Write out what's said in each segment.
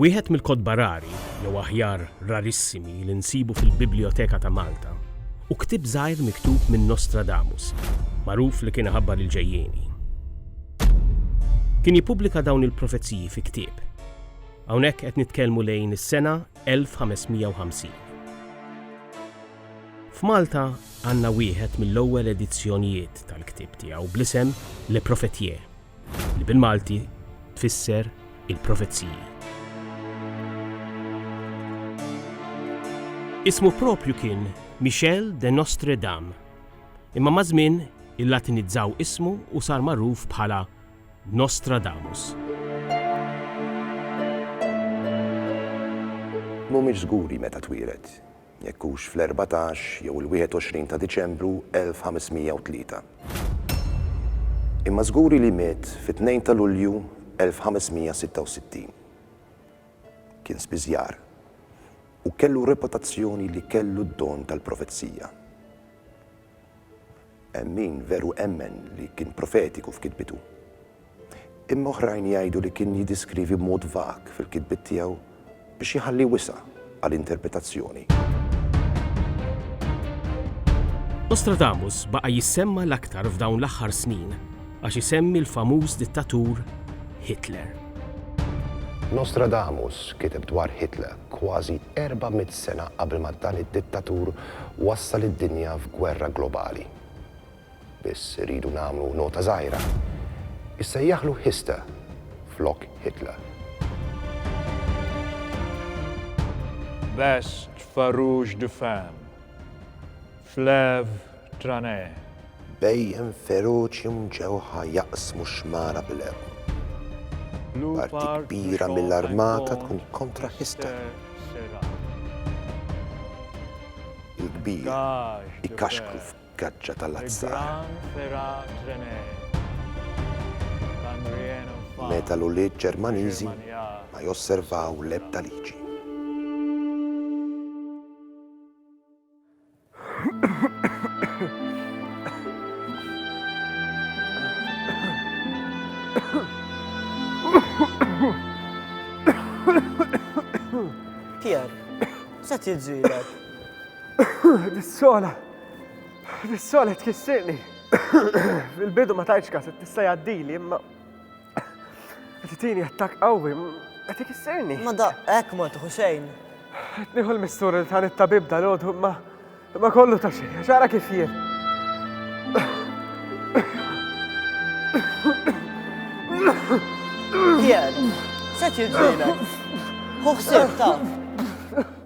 Wieħed mill-kotba rari, jew aħjar rarissimi, li nsibu fil-Biblijoteka ta' Malta hu ktieb żgħir miktub minn Nostradamus, magħruf li kien iħabbar il-ġejjieni. Kien jippubblika dawn il-profeziji fi ktieb. Hawnhekk qed nitkellmu lejn is-sena 1550. F'Malta għandna wieħed mill-ewwel edizzjonijiet tal-ktieb tiegħu bl-isem Le Prophète. li bil-Malti tfisser il-profeziji. Ismu proprju kien Michel de Nostre Dame, imma maż-żmien il-Latinizzaw ismu u sar magħruf bħala Nostradamus. M'humiex żguri meta twieled. jekk hux fl-erbatax jew il-21 ta' Diċembru 1503. Imma żguri li miet fit-tnejn ta' Lulju 1566. Kien spiżjar u kellu reputazzjoni li kellu d-don tal-profezija. Hemm min veru emmen li kien profetiku f'kitbitu. Imma oħrajn jgħidu li kien jiddeskrivi b'mod vag fil-kitbiet tiegħu biex jħalli wisa' għal interpretazzjoni. Nostradamus baqa' jissemma l-aktar f'dawn l-aħħar snin għax isemmi l-famuż dittatur Hitler. Nostradamus kiteb dwar Hitler kważi erba' mitt sena qabel ma dan id-dittatur wassal id-dinja f'gwerra globali. Biss irridu nagħmlu nota żgħira, issejjaħlu Hista flok Hitler. Best Farouche de Femme, Flev Tranè. Bhejjem feroċi mġewħa jaqsmu x-xmara bil-għewm. Parti kbira mill-armata tkun kontra Hista. Il-kbir ikkaxkru Gaġġa ta' Lat Saħar. Meta l-ulied Ġermaniżi ma josservaw l-ebda liġi. Pierre, x'qed jiġrilek? Ħdiet sola. Fis-sole tkissirni. Fil-bidu ma tajtx kas, tista' jgħaddili, imma qed itini attak qawwi, qed ikissirni. Ma da hekk ma tħu xejn. Qed nieħu l-mistur li tan it-tabib dal-għodu, imma imma kollu ta' xejn, xara kif jien. Jien, se tiġġielek. Hu ħsieb taf.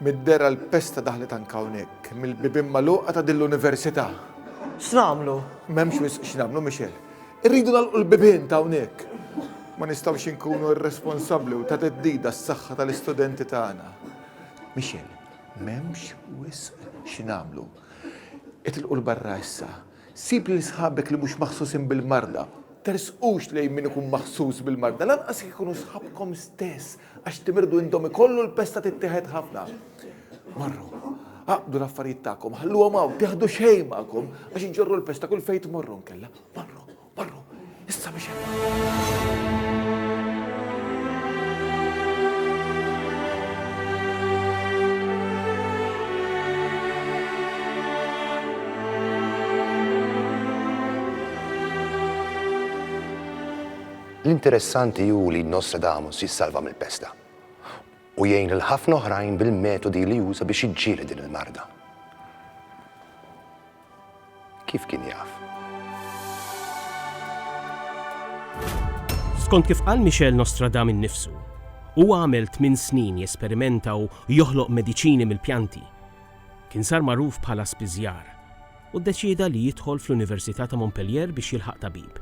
Mid-dehra l-pesta daħlet anke hawnhekk, mill-bibien magħluqa ta' din l-università. X'nagħmlu? M'hemmx wisq x'nagħmlu, Michelle. Irridu nagħlqu l-bibien ta' hawnhekk. Ma nistgħux inkunu irresponsabbli u ta' theddida għas-saħħa tal-istudenti tagħna. Michelle, m'hemmx wisq x'nagħmlu. Itilqu 'l barra issa. Sib lil sħabek li mhux maħsusin bil-marda. Tersqux lejn min ikun maħsus bil-marda, lanqas jekk ikunu sħabkom stess. Għax timirdu intom ikollu l-pesta tittieħed ħafna. Marru, aqdu l-affarijiet tagħkom, ħalluhom hawn, tieħdu xejn magħkom għax iġorru l-pesta kull fejn tmorru nkella. Marru, marru, issa biex L-interessanti hu li Nostradamus jissalva mill-pesta u jgħin lil ħafna oħrajn bil-metodi li uża biex jiġġieled din il-marda. Kif kien jaf? Skont kif qal Michel Nostradam innifsu, huwa għamel tmien snin jesperimenta u joħloq mediċini mill-pjanti. Kien sar magħruf bħala spiżjar, u ddeċieda li jidħol fl-Università ta' Montpellier biex jilħaq tabib.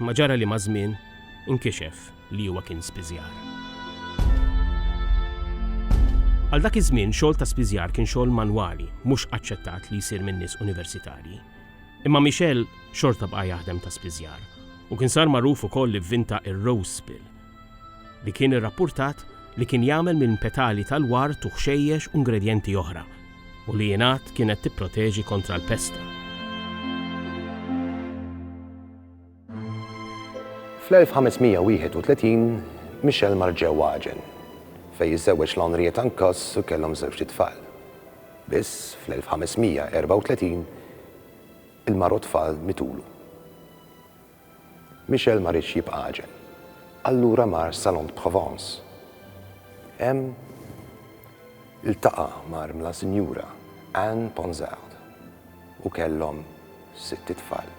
Imma ġara li maż-żmien inkixef li huwa kien spiżjar. Għal dak iż-żmien xogħol ta' spiżjar kien xogħol manwali, mhux aċċettat li jsir minn nies universitarji. Imma Michel xorta bqa' jaħdem ta' spiżjar u kien sar magħruf ukoll li vvinta r-Rose Spill, li kien irrappurtat li kien jagħmel minn petali tal-ward u ħxejjex u ingredjenti oħra, u li jingħad kienet tipproteġi kontra l-pesta. Fl-1531, Michel mar ġewwa Agen, fejn iżżewweġ l' Henriette Ancos u kellhom żewġt itfal. Biss, fl-1534, il-mara u t-tfal mitulu. Michel ma riedx jibqa' għaġeb. Allura mar s-Salon de Provence. Hemm iltaqa' mal-mla Sinjura Anne Ponsard u kellhom sitt itfal.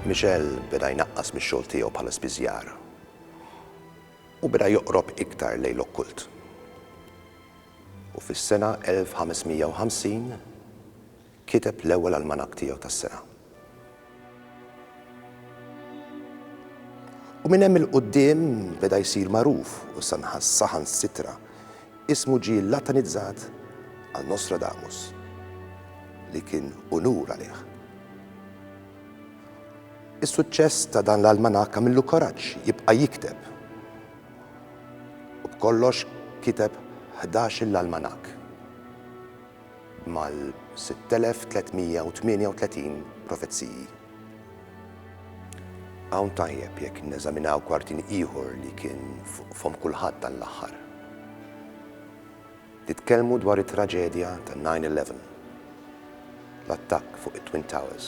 Michel beda jnaqqas mix-xogħol tiegħu bħala spiżjar u beda joqrob iktar lejn l-okkult. U fis-sena 1550 Kiteb l-ewwel almanakk tiegħu tas-sena. U minn hemm 'il quddiem beda jsir magħruf u saħansitra ismu ġie latinizzat għal Nostradamus, li kien unur għalih. Is-suċċess ta' dan l-almanakk għamillu kuraġġ jibqa' jikteb u b'kollox kiteb ħdax-il almanakk. mal-6338 profeziji. Hawn tajjeb jekk neżaminaw kwartin ieħor li kien fuq fomm kulħadd dan l-aħħar. Nitkellmu dwar it-traġedja ta' 9/11, l-attakk fuq it-Twin Towers.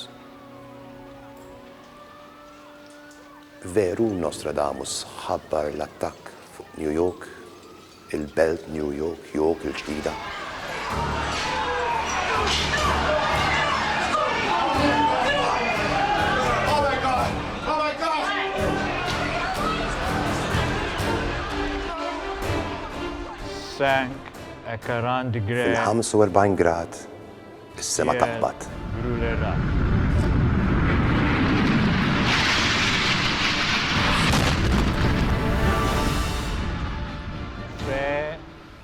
Veru Nostradamus ħabbar l-attakk fuq New York il-Belt New York, York il-Ġdida. Fil-45 grad, Is-sema taqbad.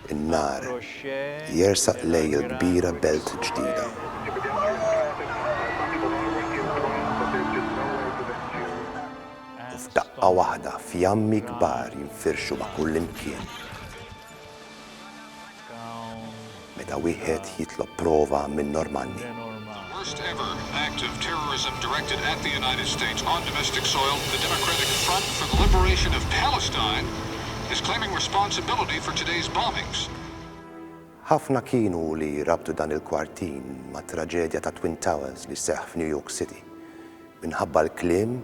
In-nhar jersaq lejn il-kbira belt ġdida. U f'daqqa waħda fjammi kbar jinfirxu ma' kullimkien. Meta wieħed jitlob prova minn Normanni. Ħafna kienu li rabtu dan il-kwartin mat-traġedja tat-Twin Towers li seħħ f'New York City. Minħabba l-kliem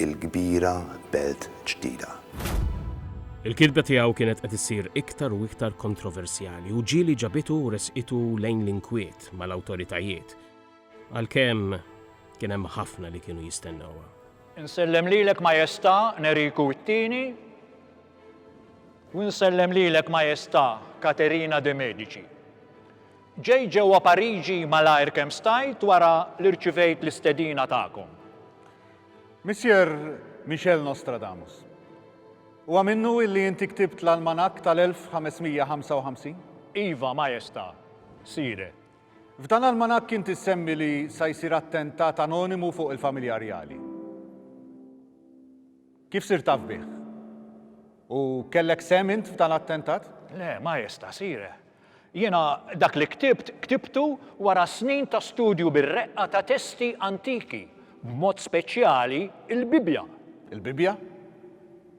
il-kbira belt ġdida. Il-kitba tiegħu kienet qed issir iktar u iktar kontroversjali u ġieli ġabitu u ressqitu lejn l-inkwiet mal-awtoritajiet, għalkemm kien hemm ħafna li kienu jistennewha. Insellem lilek Majestà Neriku t-Tieni u nsellem lilek Majestà Katerina de Medici. Ġejt ġewwa Pariġi malajr kemm stajt wara li rċivejt l-istedina tagħkom. Missier Michel Nostradamus, huwa minnu illi inti ktibt l-almanakk tal-1555? Iva, Majesta', Sire. F'dan l-almanakk inti ssemmi li sa jsir attentat anonimu fuq il-familja rjali. Kif sirt taf bih? U kellek sehem int f'dan l-attentat? Le, ma jista', Sire. Jiena dak li ktibt, ktibtu wara snin ta' studju bir-reqqa ta' testi antiki, b'mod speċjali l-Bibbja. Il-Bibbja?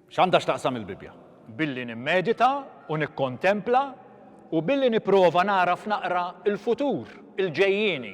X'għandha x'taqsam il-Bibbja? Billi nimmedita u nikkontempla u billi nipprova nagħraf naqra l-futur, il-ġejjieni.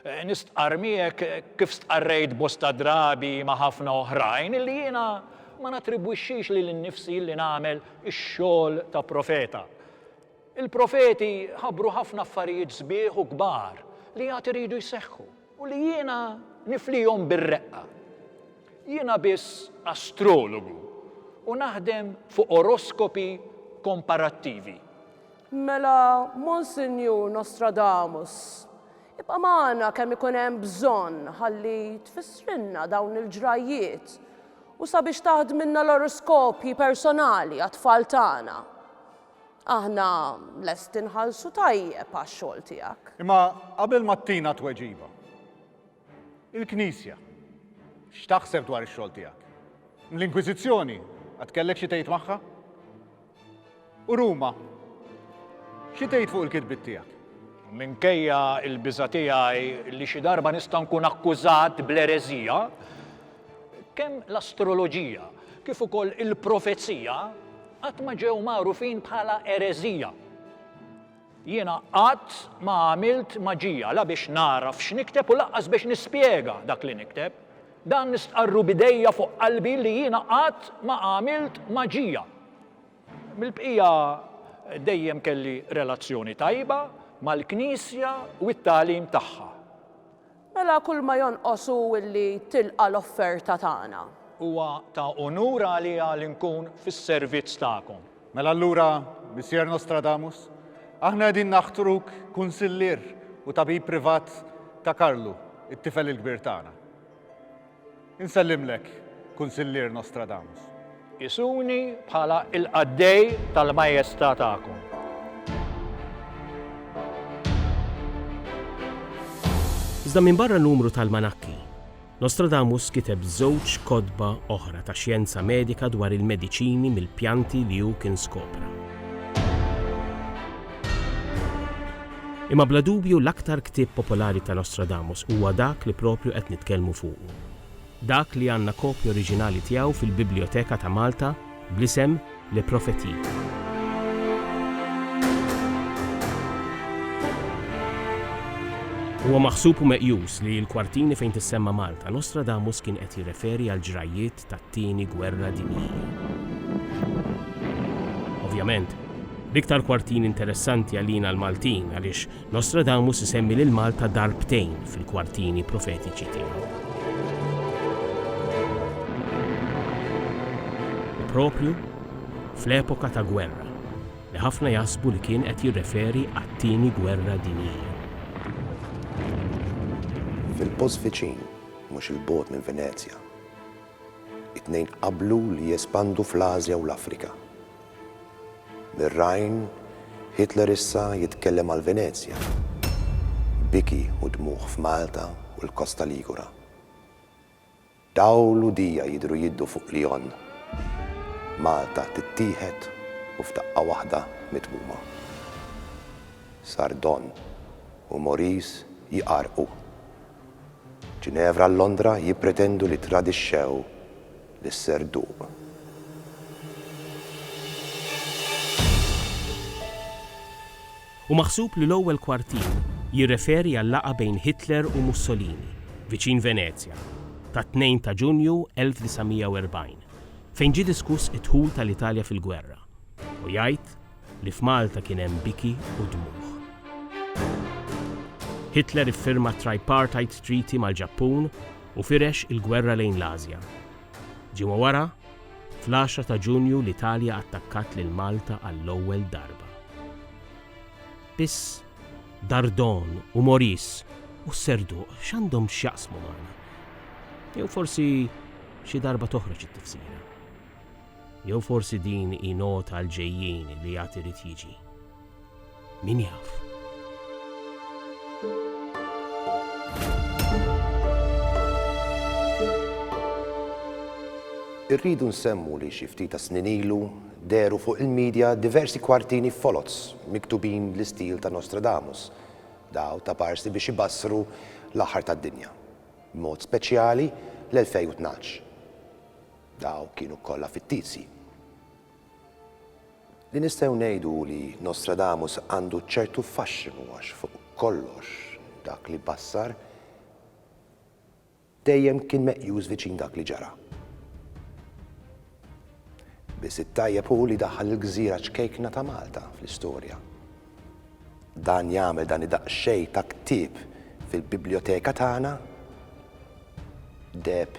Nistqarr miegħek kif stqarrejt bosta drabi ma' ħafna oħrajn li jiena ma nattribwixxix lili nnifsi li nagħmel ix-xogħol ta' profeta. Il-profeti ħabbru ħafna affarijiet sbieħ u kbar li għad iridu jseħħu u li jiena niflihom bir-reqqa. Jiena biss astrologu u naħdem fuq oroskopi komparattivi. Mela, Monsinjur Nostradamus, ibqa' magħna kemm ikun hemm bżonn ħalli tfissrilna dawn il-ġrajjiet u sabiex taħdmilna l-oroskopji personali għat-tfal tagħna. Aħna lesti nħallsu tajjeb għax-xogħol tiegħek. Imma qabel ma ttina tweġiba, Il-Knisja, x'taħseb dwar ix-xogħol tiegħek? L-Inkwiżizzjoni, għad kellek xi tgħid magħha? U Ruma, xi tgħid fuq il-kitbiet tiegħek? Minkejja l-biża' tiegħi li xi darba nista' nkun akkużat bl-ereżija, kemm l-astroloġija kif ukoll il-profezija qatt ma ġew magħrufin bħala ereżija. Jiena qatt ma għamilt maġija la biex nagħraf x'nikteb u lanqas biex nispjega dak li nikteb. Dan nistqarru b'idejja fuq qalbi li jiena qatt ma għamilt maġija. Mill-bqija dejjem kelli relazzjoni tajba mal-Knisja u t-tagħlim tagħha. Mela kull ma jonqos hu li tilqa' l-offerta tagħna. Huwa ta' unur għalija li nkun fis-servizz tagħkom. Mela allura, Missier Nostradamus, aħna qegħdin naħtruk kunsillier u tabib privat ta' Karlu, it-tifel il-kbir tagħna. Insellimlek, Kunsillier Nostradamus. Qisuni bħala l-qaddej tal-Majesta' tagħkom. Iżda minbarra numru t'almanakki, Nostradamus kiteb żewġ kotba oħra ta' xjenza medika dwar il-mediċini mill-pjanti li hu kien skopra. Imma bla dubju l-aktar ktieb popolari ta' Nostradamus huwa dak li proprju qed nitkellmu fuqu. Dak li għandna kopja oriġinali tiegħu fil-Bibljoteka ta' Malta bl-isem Les Prophéties. Huwa maħsub u meqjus li l-kwartini fejn tissemma Malta, Nostradamus kien qed jirreferi għall-ġrajjiet tat-Tieni Gwerra Dinjija. Ovvjament, l-iktar kwartin interessanti għalina l-Maltin għaliex Nostradamus isemmi lil Malta darbtejn fil-kwartini profetiċi tiegħu. U proprju fl-epoka ta' gwerra, li ħafna jaħsbu li kien qed jirreferi għat-Tieni Gwerra Dinjija. Fil-post viċin, mhux 'il bogħod minn Venezja, It-tnejn qablu li jespandu fl-Ażja u l-Afrika. Mir-Rhine, Hitler issa jitkellem għal Venezja. Biki u dmugħ f'Malta u l-Kosta Ligura. Dawl u dija jidhru jiddu fuq Lyon. Malta tittieħed u f'daqqa waħda mitmuma. Sardon u Maurice jqarrqu Ġinevra u Londra jippretendu li ttradixxew lis-serduq. Hu maħsub li l-ewwel kwartier jirreferi għal-laqgħa bejn Hitler u Mussolini, viċin Venezja, tat-2 ta' Ġunju 1940, fejn ġie diskuss id-dħul tal-Italja fil-gwerra, u jgħid, li f'Malta kien hemm biki u dmugħ. Hitler iffirma t-Tripartite Treaty mal-Ġappun u firex il-gwerra lejn l-Ażja. Ġimgħa wara, fl-għaxra ta' Ġunju l-Italja attakkat lil Malta għall-ewwel darba. Biss Dardon u Maurice u s-Serduq x'għandhom x'jaqsmu magħna? Jew forsi xi darba toħroġ it-tifsira. Jew forsi din hi nota għall-ġejjieni li għad irid jiġi? Min jaf? Irridu nsemmu li xi ftit tas-snin ilu dehru fuq il-midja diversi kwartini foloz miktubin bl-istil ta' Nostradamus, daw ta' parsi biex ibassru l-aħħar tad-dinja, b'mod speċjali l-2012. Dawk kienu kollha fittizji. Li nistgħu ngħidu hu li Nostradamus għandu ċertu faxxinu għax fuq kollox dak li bassar dejjem kien meqjus viċin dak li ġara. Biss it-tajjeb hu li daħħal il-gżira ċkejkna ta' Malta fl-istorja. Dan jagħmel dan id-daqsxejn ta' ktieb fil-bibljoteka tagħna deheb